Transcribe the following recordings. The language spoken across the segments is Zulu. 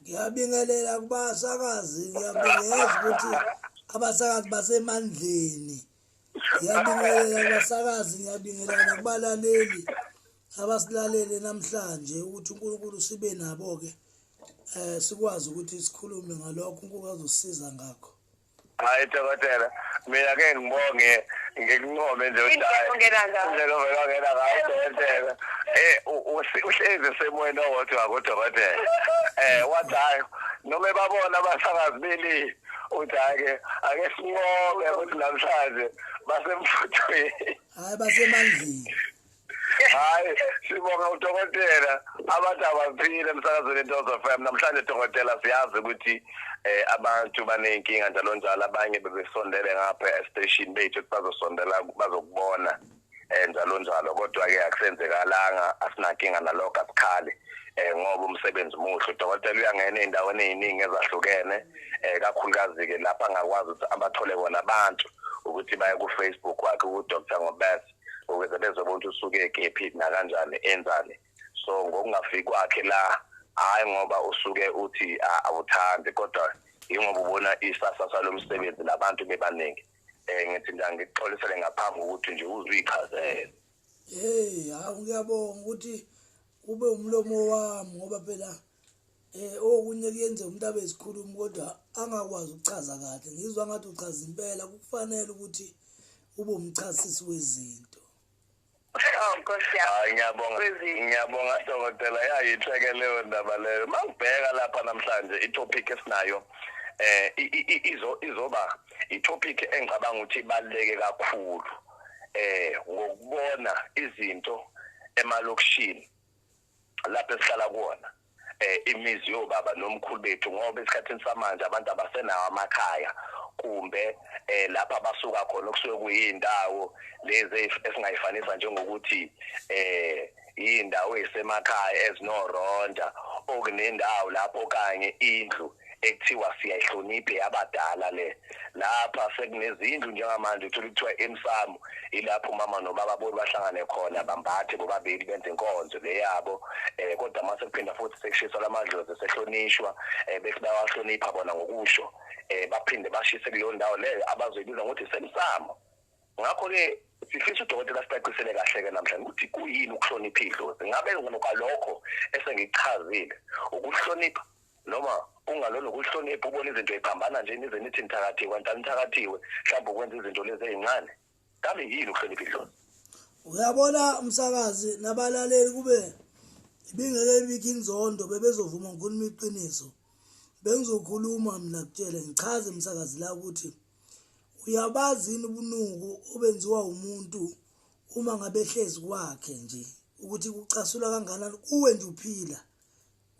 ngiyabingelela kubasakazi ngiyabingelela ukuthi abasakazi basemandleni ngiyabingelela kubasakazi ngiyabingelela nakubalaleli abasilalele namhlanje ukuthi uNkulunkulu sibe nabo ke eh sikwazi ukuthi sikhulume ngalokho uNkulunkulu azosisiza ngakho hayi dokotela mina ke ngibonge ngikuncome nje udala indlela ovela ngena ngayo dokotela eh uhlezi semoyeni owodwa kodokotela eh wathi hayi noma ebabona abasakazi beli uthi ake ake sinqobe ukuthi namhlanje basemfuthweni hayi basemandleni hayi sibonga udokotela abantu abaphile emsakazweni intozo fm namhlanje dokotela siyazi ukuthi eh abantu baneyinkinga njalo njalo abanye bebesondele ngapha estation bethu ukuthi bazosondela bazokubona eh njalo njalo kodwa ke akusenzekalanga asinankinga nalokho asikhali eh ngoba umsebenzi muhle udokotela uyangena ezindaweni eziningi ezahlukene eh kakhulukazi ke lapha ngakwazi ukuthi abathole bona abantu ukuthi baye ku Facebook wakhe ku Dr Ngobese ukuze bezobona ukuthi usuke kephi nakanjani enzani so ngokungafiki kwakhe la hayi ngoba usuke uthi awuthandi kodwa ingoba ubona isasasa lomsebenzi labantu bebaningi eh ngithi nje ngikuxolisele ngaphambi ukuthi nje uzichazele hey hawu ngiyabonga ukuthi ube umlomo wami ngoba phela Eh okunye kuyenze umuntu abe isikhulumi kodwa angakwazi ukuchaza kahle. Ngizwa ngathi uchaza impela kufanele ukuthi ube umchasisi wezinto. Oh, Nkosi yami. Hayi ngiyabonga. Kwezini. Ngiyabonga dokotela yayitheke leyo ndaba leyo. Mangibheka lapha namhlanje itopic esinayo eh i- i- i- izo izoba itopic engicabanga ukuthi ibaleke kakhulu eh ngokubona izinto emalokishini lapho esihlala kuwona eh imizi yobaba nomkhulu bethu ngoba esikhathini samanje abantu abasenawo amakhaya kumbe eh lapha basuka khona okusuke kuyindawo lezi esingayifanisa njengokuthi eh indawo esemakhaya ezinoronda okunendawo lapho kanye indlu ekuthiwa siyayihlonipha eyabadala le lapha sekunezindlu njengamanje uthola kuthiwa emsamo ilapho umama nobaba bona bahlangane khona bambathe bobabili benze inkonzo le yabo um kodwa uma sekuphinda futhi sekushiswa la madlozi sehlonishwa um bethi bayawahlonipha bona ngokusho um baphinde bashise kuleyo ndawo leyo abazoyibiza ngokuthi semsamo ngakho-ke sifisa udokotela sicacisele kahle-ke namhlanje ukuthi kuyini ukuhlonipha idlozi ngabe ngokwalokho esengikuchazile ukuhlonipha Noma ungalona ukuhlonipha ubona izinto eziphambana nje nize nithi nithakathiwe kanti anithakathiwe mhlawumbe ukwenza izinto lezi ezincane kambe yini ukuhlonipha idlozi uyabona umsakazi nabalaleli kube ibingeke ibikho inzondo bebezovuma ngikhuluma iqiniso bengizokhuluma mina kutshele ngichaze umsakazi la ukuthi uyabazi yini ubunuku obenziwa umuntu uma ngabe hlezi kwakhe nje ukuthi kucasula kangakanani kuwe nje uphila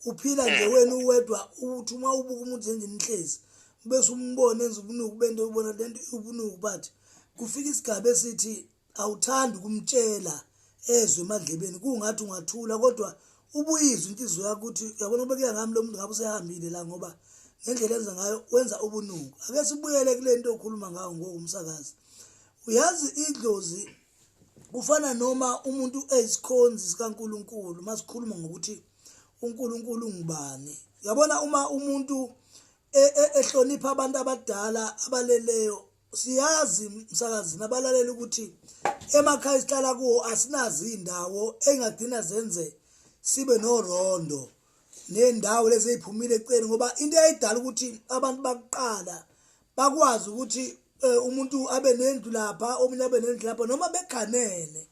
uphila nje mm. wena uwedwa ukuthi uma ubuka umuntu njenje nihlezi bese umbone enza ubunuku bento ubona lento ubunuku but kufika isigaba esithi awuthandi kumtshela ezwe emadlebeni kungathi ungathula kodwa ubuyizwe inhliziyo yakho ukuthi yabona ubekeka ngami lo muntu ngabe usehambile la ngoba ngendlela enza ngayo wenza ubunuku ake sibuyele kule nto okhuluma ngayo ngoku umsakazi uyazi idlozi kufana noma umuntu ezikhonzi zikaNkuluNkulu masikhuluma ngokuthi uNkuluNkulu ngubani yabona uma umuntu e, e, ehlonipha abantu abadala abaleleyo siyazi msakazini abalalela ukuthi emakhaya isihlala kuwo asinazi indawo engagcina zenze sibe norondo nendawo lezi eziphumile eceleni ngoba into eyidala ukuthi abantu bakuqala bakwazi ukuthi eh, umuntu abe nendlu lapha omunye abe nendlu lapha noma beganene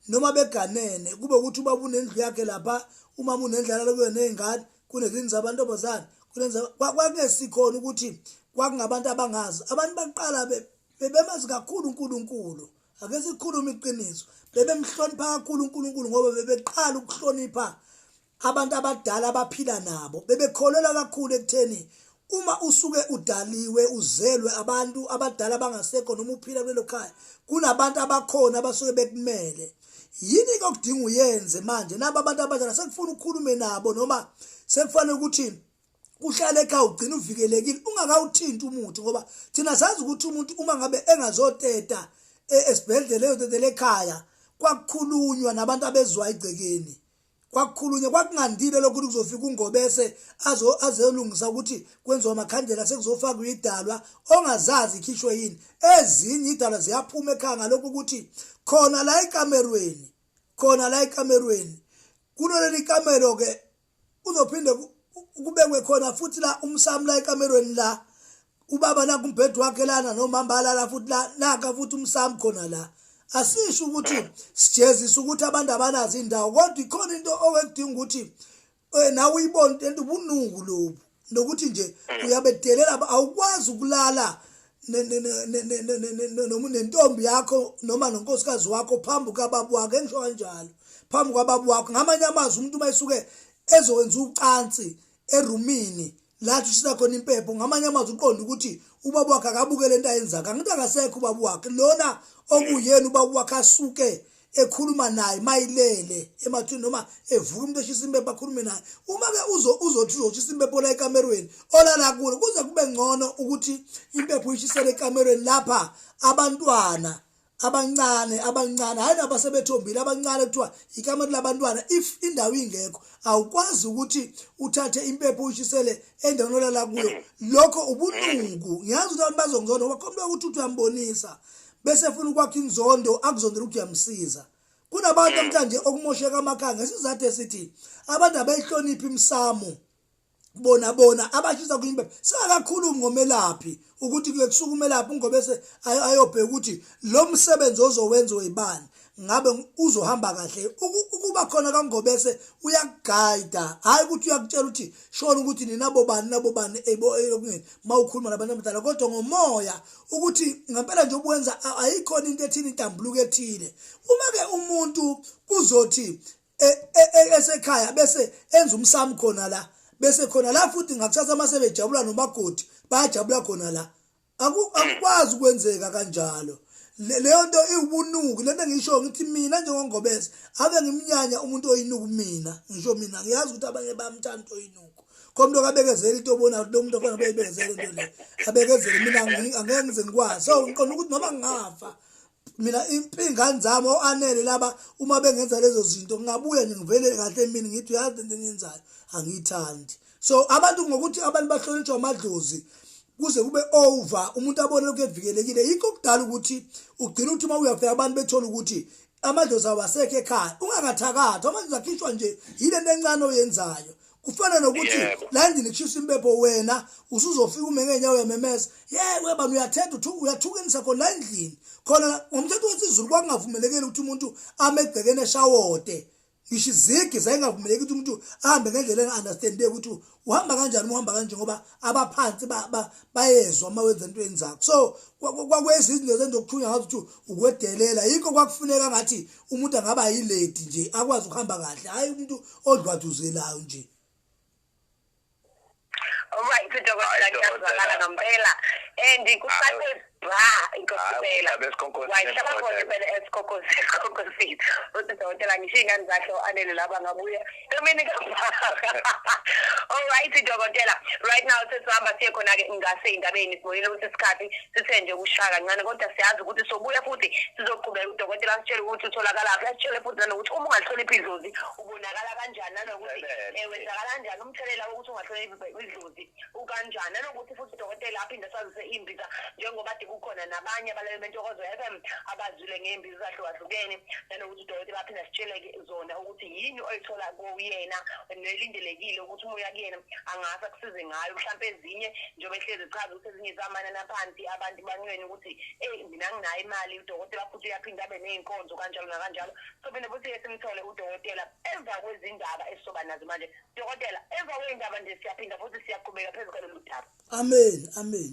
noma beganene kube ukuthi ubaba unendlu yakhe lapha umama unendlala lokuyona nezingane kunezini zabantombazane kunenza kwakungesikhona ukuthi kwakungabantu abangazi abantu baqala bebemazi kakhulu uNkulunkulu ake sikhulume iqiniso bebemhlonipha kakhulu uNkulunkulu ngoba bebeqala ukuhlonipha Abantu abadala abaphila nabo bebekholelwa kakhulu ekutheni uma usuke udaliwe uzelwe abantu abadala bangasekho noma uphila kulelo khaya kunabantu abakhona abasuke bekumele yini ke okudinga uyenze manje nabo abantu abadala sekufuna ukhulume nabo noma sekufanele ukuthi uhlale ekhaya ugcina uvikelekile ungakawuthinti umuthi ngoba thina sazi ukuthi umuntu uma ngabe engazoteta e, esibhedlela eyotetela ekhaya kwakukhulunywa nabantu abezwa igcekeni kwakukhulunywa kwakungandile lokho ukuthi kuzofika ungobese azolungisa ukuthi kwenziwa amakhandlela sekuzofakwa idalwa ongazazi ikhishwe yini ezinye idalwa ziyaphuma ekhaya ngalokhu ukuthi khona la ekamerweni khona la ekamerweni kunoleli kamero-ke uzophinde kubekwe khona futhi la umsami la ekamerweni la ubaba naku umbhedo wakhe lana nomama balala futhi la naka futhi umsami khona la asisho ukuthi sijezisa ukuthi abantu abanazi indawo kodwa ikhona into owekudinga ukuthi eh, nawe uyibone into ubunuku lobu nokuthi nje mm. uyabedelela awukwazi ukulala noma nentombi yakho noma nonkosikazi wakho phambi kababu wakho engisho kanjalo phambi kwababu wakho ngamanye amazwi umuntu uma esuke ezokwenza ucansi erumini lathi ushisa khona impepho ngamanye amazwi uqonda ukuthi ubaba wakhe akabuke lento ayenzaka angithi akasekho ubaba wakhe lona okuyena ubaba wakhe asuke ekhuluma naye mayilele emathini noma evuka umuntu eshisa impepho akhulume naye uma-ke uzothi uzoshisa impepho la ekamerweni olala kulo kuze kube ngcono ukuthi impepho uyishisele ekamerweni lapha abantwana abancane abancane hayi nabo asebethombile abancane kuthiwa ikamati labantwana if indawo ingekho awukwazi ukuthi uthathe impepho uyishisele endaweni olala kuyo lokho ubunuku ngiyazi ukuthi abantu bazongizonda ngoba khona ukuthi uthi uyambonisa bese efuna ukwakha inzondo akuzondela ukuthi uyamsiza kunabantu namhlanje okumosheka amakhanga isizathu esithi abantu abayihloniphi imsamo bona bona abashisa kwimpepha singakakhulumi ngomelaphi ukuthi kusuka umelaphi ungobese ayobheka ukuthi lo msebenzi ozowenza oyibani ngabe uzohamba kahle ukuba khona kangobese uyakuguida hayi ukuthi uyakutshela ukuthi shona ukuthi ninabo bani nabo bani eyokungeni mawukhuluma nabantu abadala kodwa ngomoya ukuthi ngempela nje obuwenza ayikhona into ethini intambuluko ethile uma ke umuntu kuzothi e, e, e, esekhaya bese enza umsamo khona la bese khona la futhi ngakusasa uma sebejabula nomakoti bayajabula khona la akukwazi ukwenzeka kanjalo leyo nto iwubunuku lento ngisho ngithi mina njengongobese ave ngimnyanya umuntu oyinuku mina ngisho mina ngiyazi ukuthi abanye bayamthanda oyinuku komuntu okabekezela into obona ukuthi lomuntu ofana beyibekezela into le abekezele mina angeke ngize ngikwazi so ngiqonda ukuthi noma ngafa mina impingane zami o-anele laba uma bengenza lezo zinto ngingabuya nje ngivele kahle mina ngithi uyazi into eniyenzayo angiyithandi so abantu ngokuthi abantu bahlonitshwa amadlozi kuze kube over umuntu abone lokhu evikelekile yikho kudala ukuthi ugcina ukuthi uma uyafika abantu bethola ukuthi amadlozi awasekho ekhaya ungakathakathi amadlozi akhishwa nje yile nto encane oyenzayo kufana nokuthi la ndini kushisa impepho wena usuzofika ume ngenyawo uyamemeza ye webani uyathetha uyathukenisa khona la endlini khona ngomthetho wesizulu kwakungavumelekile ukuthi umuntu ame egcekeni eshawode ngisho izigi zayingavumeleki ukuthi umuntu ahambe ngendlela enga-understandeki ukuthi uhamba kanjani uhamba kanje ngoba abaphansi bayezwa uma wenza into enzakho so kwakwenza izinto zenzokuthunya ngazi ukuthi ukwedelela yikho kwakufuneka ngathi umuntu angaba yiledi nje akwazi ukuhamba kahle hayi umuntu odlwaduzelayo nje right dokotela ngiyazwakala ngempela and kusase bra inkosibela wayihlaba khona impela esikhokhosini uthi dokotela ngisho iy'ngane zakhe o-anele laba ngabuye Dominic Alright dokotela right now sesihamba siye khona ke ngase indabeni sibuyile ukuthi isikhathi sithe nje ukushaya kancane kodwa siyazi ukuthi sobuya futhi sizoqhubeka udokotela asitshele ukuthi utholakala phi asitshele futhi nanokuthi uma ungahloniphi idlozi ubonakala kanjani nanokuthi eh, wenzakala kanjani umthelela wokuthi ungahloniphi idlozi ukanjani nanokuthi futhi udokotela aphinde asazise imbiza njengoba kukhona nabanye abalele bentokozo FM abazwile ngembiza zahlukahlukene nanokuthi udokotela aphinde asitsheleke zona ukuthi yini oyithola kuyena nelindelekile ukuthi uma uya kuyena angase akusize ngayo mhlawumpe ezinye njengoba ehlezi echaza ukuthi ezinye zamanani aphansi abantu bancwene ukuthi eyi mina nginayo imali udokotela futhi uyaphinde abe ney'nkonzo kanjalo nakanjalo sophinde futhi ke simthole udokotela emva kwezindaba esizoba nazo manje dokotela emva kwey'ndaba nje siyaphinda futhi siyaqhubeka phezu kwalolu daba amen amen